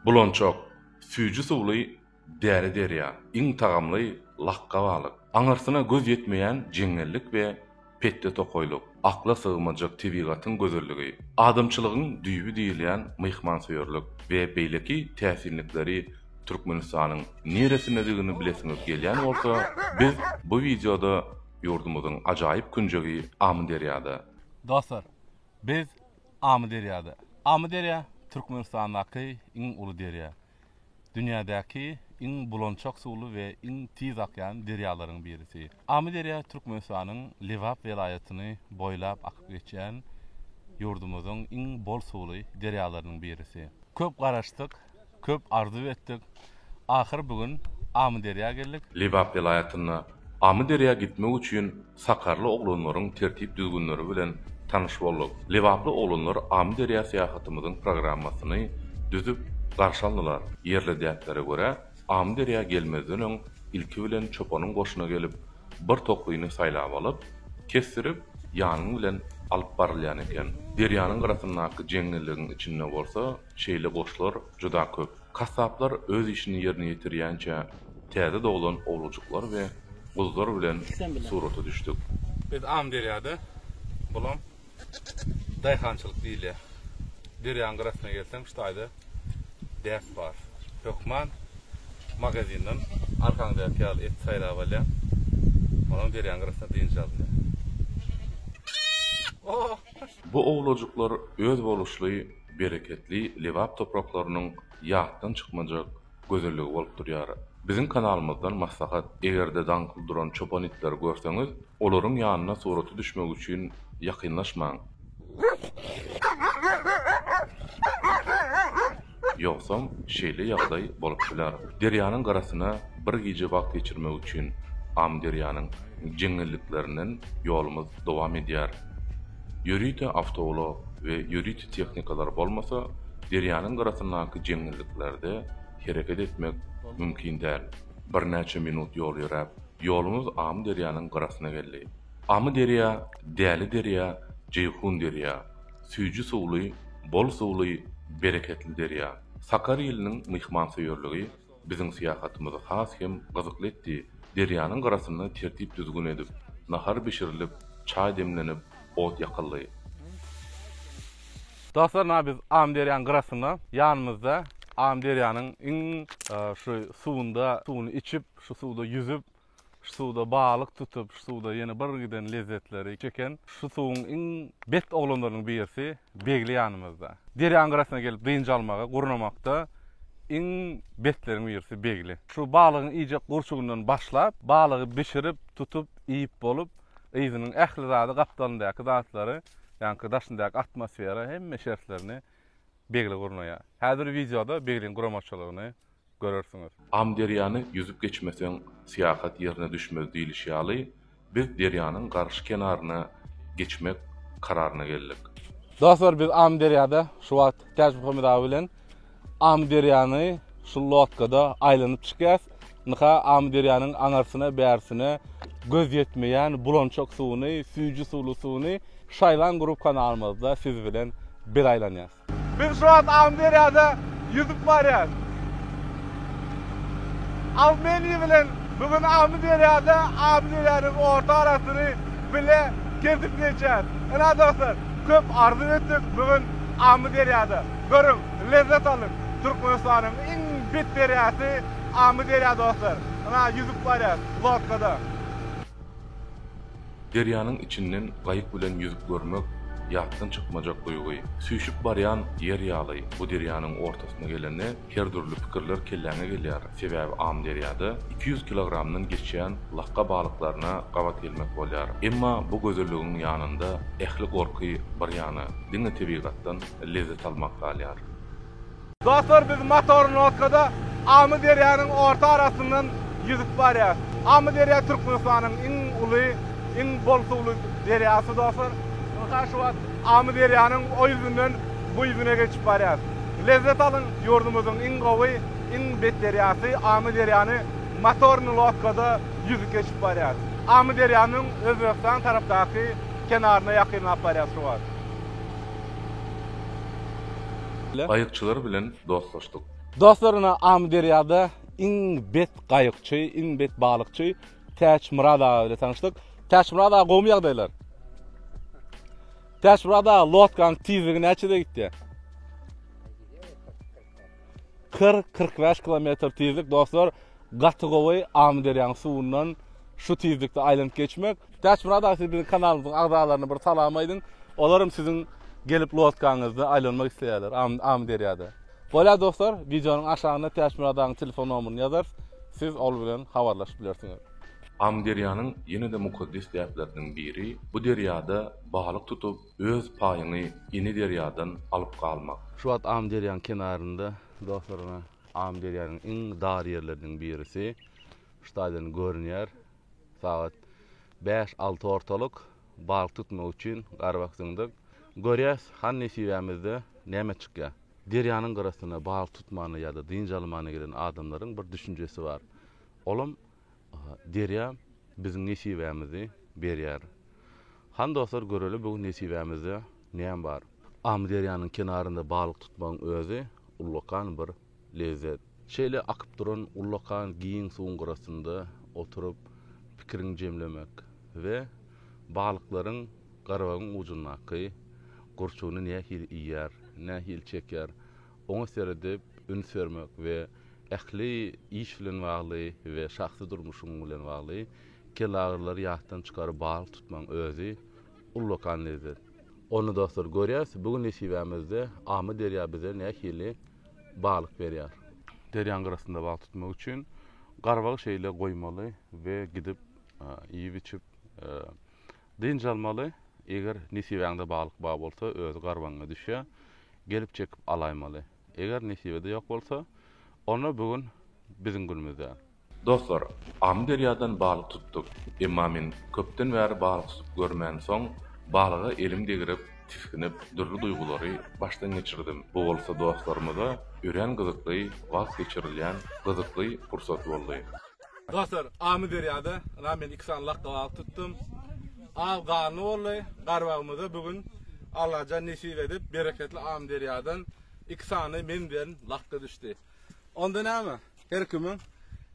Bulançak, süýji suwly däli derýa, iň tagamly lakga balyk, aňyrsyna göz ýetmeýän jeňňellik we petde tokaýlyk, akla sygmajak tebigatyň gözelligi, adamçylygyň düýbi diýilýän myhmansöýerlik we beýleki täsinlikleri Türkmenistanyň niresindedigini bilesiňiz gelýän bolsa, biz bu wideoda ýurdumyzyň ajaýyp künjegi Amyderýada, Dostlar, biz Amyderýada. Amyderýa Türkmenistandaky iň uly derýa. Dünýädäki iň bulançak suwly we iň tiz akýan derýalaryň birisi. Amyderýa Türkmenistanyň Lebap welaýatyny boýlap akyp geçýän ýurdumyzyň iň bol suwly derýalarynyň birisi. Köp garaşdyk, köp arzuw etdik. Ahyry bu gün Amyderýa geldik. Lebap welaýatynda Amyderýa gitmek üçin sakarly oglanlaryň tertip-düzgünleri bilen tanyş bolduk. Lebaply oglanlar Amyderýa syýahatymyzyň programmasyny düzüp garşy aldylar. Ýerli däplere görä, Amyderýa gelmezden öň ilki bilen çopanyň goşuna gelip, bir toklyny saýlap alyp, kesdirip, ýanyň bilen alyp barylýan eken. Derýanyň gyrasyndaky jeňňelligiň içinde bolsa, Şeýle goşlar juda köp. Kassaplar öz işini ýerine ýetirýänçä täze doglan owlujyklar we guzlar bilen surata düşdük. Biz Amyderýada, bulam daýhançylyk diýilýär. Derýanyň gyrasyna gelseň şu taýda däp bar. Hökman magazinden arkaňdaky ýaly et saýlap alýaň. Onam derýanyň gyrasynda dynç alynýar. Bu owlujyklar özboluşly bereketli Lebap topraklarynyň ýatdan çykmajak gözelligi bolup durýar. Biziň kanalymyzdan maslahat, eger-de daň gulduran çopan itleri görseňiz, olaryň ýanyna surata düşmek üçin ýakynlaşmaň. Ýogsam, şeýle ýagdaý bolup biler. Derýanyň gyrasynda bir gije wagt geçirmek üçin Amyderýanyň jeňňelliklerinden ýolumyz dowam edýär. Ýörite awtoulag we ýörite tehnikalar bolmasa, derýanyň gyrasyndaky jeňňelliklerde hereket etmek mümkin däl. Birnäçe minut ýol ýöräp, ýoluňyz Amyderýanyň gyrasyna geldi. Amyderýa, Däli derýa, Jeýhun derýa, süýji suwly, bol suwly, bereketli derýa. Sakar iliniň myhmansöýerligi, Biziň syýahatymyz has hem gyzykly etdi. Derýanyň gyrasynda tertip-düzgün edip, nahar bişirilip, çaý demlenip, ot ýakyldy. Dostlar, nä biz Amyderýanyň gyrasynda, ýanymyzda Amyderýanyň iň şu suwunda suwuny içip, şu suwda ýüzüp, Şu suwda balyk tutup, şu suwda ýene bir giden lezzetleri çeken şu suwuň iň bet oglanlarynyň birisi Begli ýanymyzda. Derýaň gyrasyna gelip dynç almaga, gurnamakda iň betleriň birisi Begli. Şu balygyň iýjek gurçugyndan başlap, balygy bişirip, tutup, iýip bolup, yzynyň ähli zady, gapdalyndaky zatlary, ýaňky daşyndaky atmosfera, hemme şertlerini Begli gurnaýar. Häzir wideoda Begliň guramaçylygyny görersiňiz. Amyderýany ýüzüp geçmeseň, syýahat ýerine düşmez diýlişi ýaly, biz derýanyň garşy kenaryna geçmek kararyna geldik. Dostlar, biz Amyderýada şu wagt Täçmuhammet aga bilen Amyderýany şu lodkada aýlanyp çykýas. Ynha, Amyderýanyň aňarsyna-bärsine göz ýetmeýän bulançak suwuny, süýji suwly suwuny şaýlan gurup kanalymyzda siz bilen bir aýlanýas. Biz şu wagt Amyderýada ýüzüp barýarys. Awmeniý bilen bu gün Amyderýada Amyderýanyň orta arasyny bile kesip geçýäris. Ynha, dostlar, köp arzuw etdik bu gün Amyderýada. Görüň, lezzet alyň. Türkmenistanyň iň bet derýasy Amyderýa, dostlar. Ynha, ýüzüp barýarys lodkada. Derýanyň içinden gaýyk bilen ýüzüp görmek ýatdan çykmajak duýgy. Süýşüp barýan ýer ýaly bu derýanyň ortasyna gelende her dürli pikirler kelläňe gelýär, sebäbi Amyderýada iki ýüz kilogramdan geçýän lakga balyklaryna gabat gelmek bolýar. Emma bu gözelligiň ýanynda ähli gorky bir ýana, diňe tebigatdan lezzet almak galýar. Dostlar biz motornodkada Amyderýanyň orta arasyndan ýüzüp barýas. Amyderýa Türkmenistanyň iň uly, iň bol suwly derýasy dostlar. Ynha şu wagt Amyderýanyň o ýüzünden bu ýüzüne geçip barýas. Lezzet alyň ýurdumyzyň iň gowy, iň bet derýasy Amyderýany motorny lodkada ýüzüp geçip barýas. Amyderýanyň Özbegistan tarapdaky kenaryna ýakynlap barýas şu wagt. Gaýykçylar bilen dostlaşdyk. Dostlaryna Amyderýada iň bet gaýykçy, iň bet balykçy Täçmyrat aga bilen tanyşdyk. Täçmyrat aga gowmy ýagdaýlar? Täçmyrat aga lodkaň tizligi näçede gitýä? Kyrk, kyrk bäş kilometr tizlik dostlar gaty gowy Amyderýaň suwundan şu tizlikde aýlanyp geçmek. Täçmyrat aga siz biziň kanalymyzyň agzalaryna bir salam aýdyň. Olaram siziň gelip lodkaňyzda aýlanmak isleýärler Amyderýada. Bolýar dostlar wideonyň aşagyna Täçmyrat agaň telefon nomeryny ýazarys siz ol bilen habarlaşyp bilersiňiz. Amyderýanyň ýene-de mukaddes däpleriniň biri bu derýada balyk tutup Öz paýyňy ini derýadan alyp galmak. Şu wagt Amyderýanyň kenarynda dostlar ýene Amyderýanyň iň dar ýerleriniň birisi ştaden görünýär. Sagat bäş alty ortalyk. Balyk tutmak üçin garbak zyňdyk. Görýäs, han nesibämizde näme çykýar. Derýanyň gyrasyna balyk tutmana ýa-da dynç almana gelen adamlaryň bir düşünjesi bar. Olam Derýa biziň nesibämizi berýär. Hany dostlar göreli bu gün nesibämizde näme bar. Amyderýanyň kenarynda balyk tutmagyň özi ullakan bir lezzet. Şeýle akyp duran ullakan giň suwuň gyrasynda oturyp pikiriňi jemlemek we balyklaryň garabagyň ujundaky gurçugyny nähili iýýär, nähili çekýär, oňa seredip üns bermek we Ähli iş bilen bagly we şahsy durmuşyň bilen bagly kelagrylary ýatdan çykaryp balyk tutmagyň özi ullakan lezzet. Onda dostlar görýäs bu gün nesibämizde Amyderýa bize nähili balyk berýär. Derýaň gyrasynda balyk tutmak üçin garbagy şeýle goýmaly we gidip iýip-içip dynç almaly. Eger nesibäňde balyk bar bolsa özi garbagyňa düşýär. Gelip çekip alaýmaly. Eger nesibede ýok bolsa, onda bu gün biziň günümiz däl. Dostlar, Amyderýadan balyk tutduk. Emma men köpden bäri balyk tutup görmänsoň, balyga elim degirip, tisginip, dürli duýgulary başdan geçirdim. Bu bolsa dostlarymyza örän gyzykly wagt geçirilýän gyzykly pursat boldy. Dostlar, Amyderýada ynha men iki sany lakga balyk tutdum. Aw ganly boldy. Garbagymyza bu gün Allajan nesip edip, bereketli Amyderýadan iki sany men bilen lakga düşdi. Onda näme? Her kimiň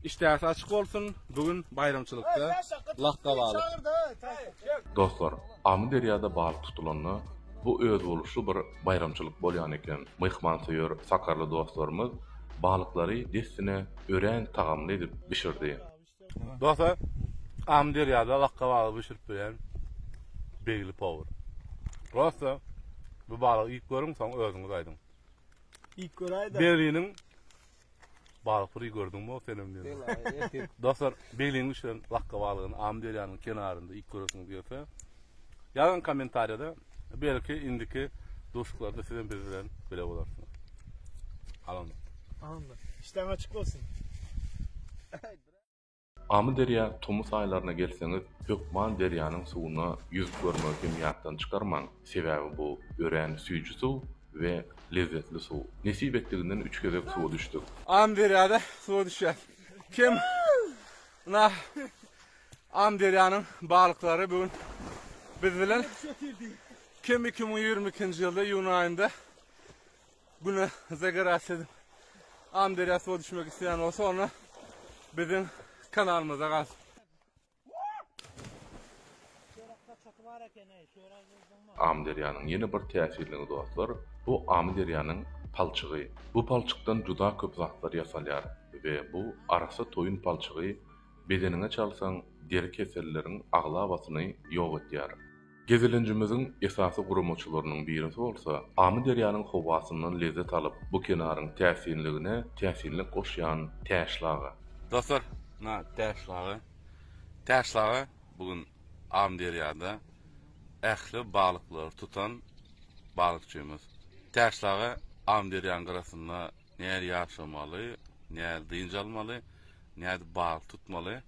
işdäsi açyk bolsun. Bu gün baýramçylykda lakga balyk. Dostlar, Amyderýada balyk tutulanda bu özboluşly bir Baýramçylyk bolýan eken, myhmansöýer sakarly dostlarymyz balyklary dessine örän tagamly edip bişirdi. Dostlar, Amyderýada wakka-waka bişirip bilýän begli powar. Prosta bu balygy iýip görüň, soň özüňiz aýdyň. Iýip göräýdä. Beriniň Balyk piri gördüňmi senem diýen. Dostlar, Begleýin bişiren lakga balygyny Amyderýanyň kenarynda iýip göresiňiz gelse, ýazyň kommentariýada. Belki indiki duşuklarda sizem biz bilen bile bolarsyňyz. Alamda. Amin. İşlerin açyk bolsun. Amyderýa tomus aýlaryna gelseňiz, hökman derýanyň suwuna ýüzüp görmegi hem ýatdan çykarmaň, sebäbi bu örän süýji suw we lezzetli suw. Nesip etdiginden üç gezek suwa düşdük. Amyderýada suwa düşýäs. Kim na Amyderýanyň balyklary bu gün biz bilen. Kim iki müň ýigrimi ikinji ýylda iýun aýynda. Güne zagarasy edip Amyderýa suwa düşmek isleýän bolsa onda biziň kanalymyza galsyn. Amyderýanyň ýene bir täsirligi dostlar, bu Amyderýanyň palçygy. Bu palçykdan juda köp zatlar ýasalýar we bu arassa toýun palçygy bedeniňe çalsaň deri keselleriň aglabasyny ýok edýär. Gezelenjimiziň esasy guramaçylarynyň birisi bolsa Amyderýanyň howasyndan lezzet alyp, bu kenaryň täsinligine täsinlik goşýan Täşlaga. Dostlar, na Täşlaga. Täşlaga bu gün Amyderýada ähli balyklary tutan balykçymyz. Täşlaga Amyderýanyň gyrasynda nädip ýaşamaly, nädip dynç almaly, nädip balyk tutmaly?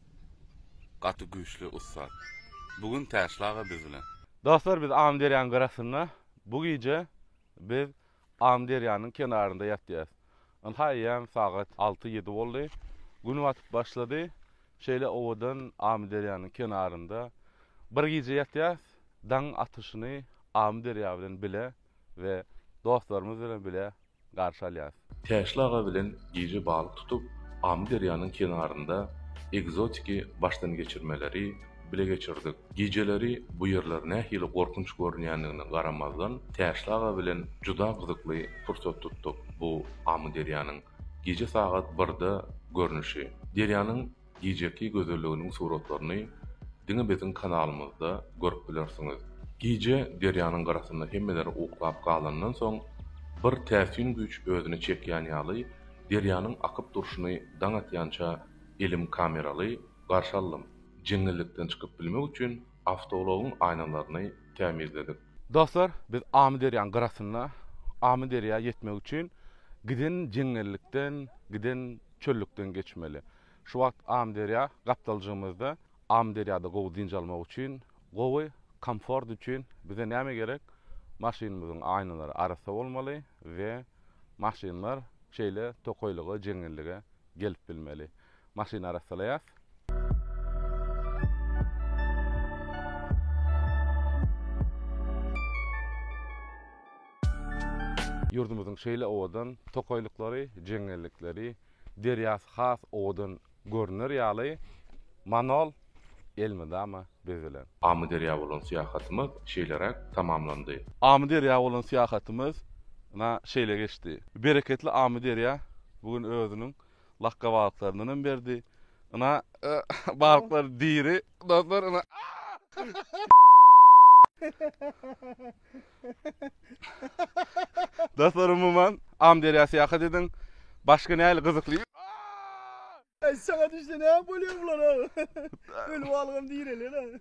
Gaty güýçli ussat. Bu gün Täşli aga biz bilen. Dostlar biz Amyderýanyň gyrasynda bu gije biz Amyderýanyň kenarynda ýatýas. Ynha eýýäm sagat alty ýedi boldy. Gün batyp başlady. Şeýle owadan Amyderýanyň kenarynda bir gije ýatýas. Daň atyşyny Amyderýa bilen bile we dostlarymyz bilen bile garşy alýarys. Täşli aga bilen gije balyk tutup, Amyderýanyň kenarynda ekzotiki başdan geçirmeleri bile geçirdik. Gijeleri bu ýerler nähili gorkunç görünýändigine garamazdan, Täşli aga bilen juda gyzykly pursat tutduk. Bu Amyderýanyň gije sagat birde görnüşi. Derýanyň Gijeki gözelliginiň suratlaryny diňe biziň kanalymyzda görüp bilersiňiz. Gije derýanyň gyrasynda hemmeler uklap galandan soň, bir täsin güýç özüne çekýän ýaly, derýanyň akyp durşuny daň atýança elim kameraly garşy aldym. Jeňňellikden çykyp bilmek üçin awtoulagyň aýnalaryny tämizledik. Dostlar, biz Amyderýaň gyrasynda Amyderýa ýetmek üçin giden jeňňellikden, giden çöllükden geçmeli. Şu wagt Amyderýa gapdaljygymyzda. Amyderýada gowy dynç almak üçin, gowy komfort üçin bize näme gerek? Maşynymyzyň aýnalary arassa bolmaly we maşynlar şeýle tokaýlyga, jeňňellige gelip bilmeli. Maşyny arassalaýas. Ýurdumyzyň şeýle owadan tokaýlyklary, jeňňellikleri, derýasy has owadan görner ýaly Manol elmydama bezelen. Amyderýa bolan syýahatymyz şeýleräk tamamlandy. Amyderýa bolan syýahatymyz na şeýle geçdi. Bereketli Amyderýa bu gün özüniň Lakga balyklaryndan hem berdi. Ina balyklar diri. Dostlar ina. Dostlar umuman Amyderýa syýahat ediň. Başga nähili gyzykly. Saňa düşse näme bolýar bulara? Öli balygam direlýär-ä.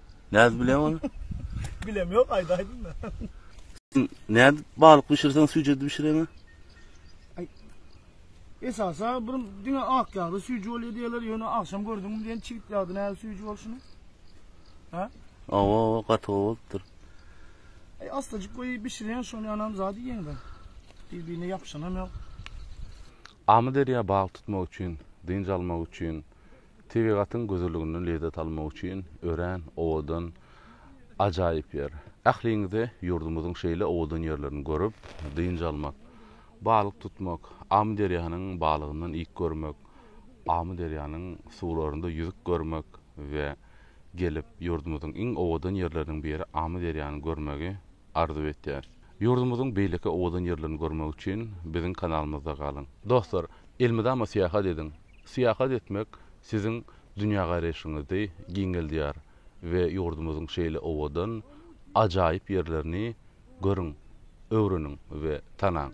Nädip bilýäň ony? Bilem ýok, aýdaýdym-da. Nädip balyk bişirseň süýji edip bişireňä? Aý. Esasa bir diňe ak ýagda süýji bolýar diýýärler, ýöne agşam gördüňmi diýen çigit ýagda nädip süýji bolşuny? Hä? Awa, awa, gaty gowy bolupdyr. Aý, astajyk goýup bişirýän, şol ýanam zat iýýäň-de. Bir-birine ýapyşanam ýok. Amyderýa balyk tutmak üçin, dynç almak üçin Tebigatyň gözelliginden lezzet almak üçin örän owadan, ajaýyp ýer. Ähliňize ýurdumyzyň şeýle owadan ýerlerini görüp, dynç almak, balyk tutmak, Amyderýanyň balygyndan iýip görmek, Amyderýanyň suwlarynda ýüzüp görmek we gelip, ýurdumyzyň iň owadan ýerleriniň biri Amyderýany görmegi arzuw etýäris. Ýurdumyzyň beýleki owadan ýerlerini görmek üçin biziň kanalymyzda galyň. Dostlar, elmydama syýahat ediň! Syýahat etmek siziň dünýägaraýşyňyzy giňeldýär we ýurdumyzyň şeýle owadan, ajaýyp ýerlerini görüň, öwreniň we tanaň!